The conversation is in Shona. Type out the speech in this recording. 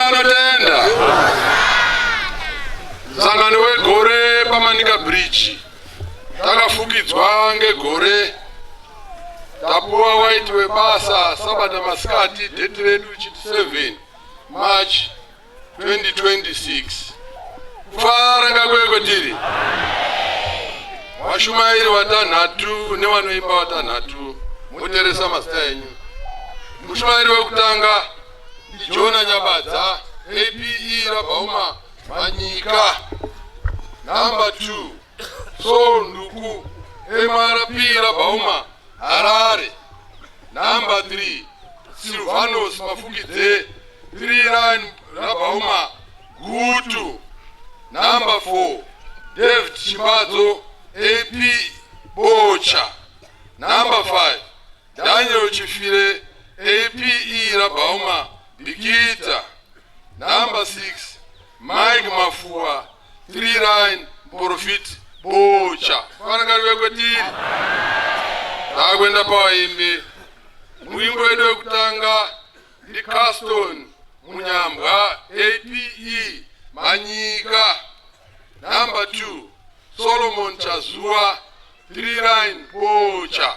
Anotenda sangano wegore pamanika bridge takafukidzwa ngegore tapuwa waiti webasa sabata masikati date redu chiti 7 march 2026 kufara ngakweko tiri vashumairi vatanhatu nevanoimba vatanhatu moteresa mazita enyu mushumairi wekutanga Jona Nyabadza, APE Rabhauma Manyika. Number two, Saul Nduku, MRP Rabhauma Harare. Number three, Silvanos Mafukidze, Three Line Rabhauma Gutu. Number four, David Chibadzo, AP Bocha. Number five, Daniel Chifire, APE Rabauma, Bikita, number 6, Mike Mafua, 3 line, Profit, Bocha. Vanagari vekwetiri. Takwenda pawaimbi. Mwimbo wedu wekutanga ndi Caston Munyambwa, APE Manyika, number 2, Solomon Chazua, 3 line, Bocha.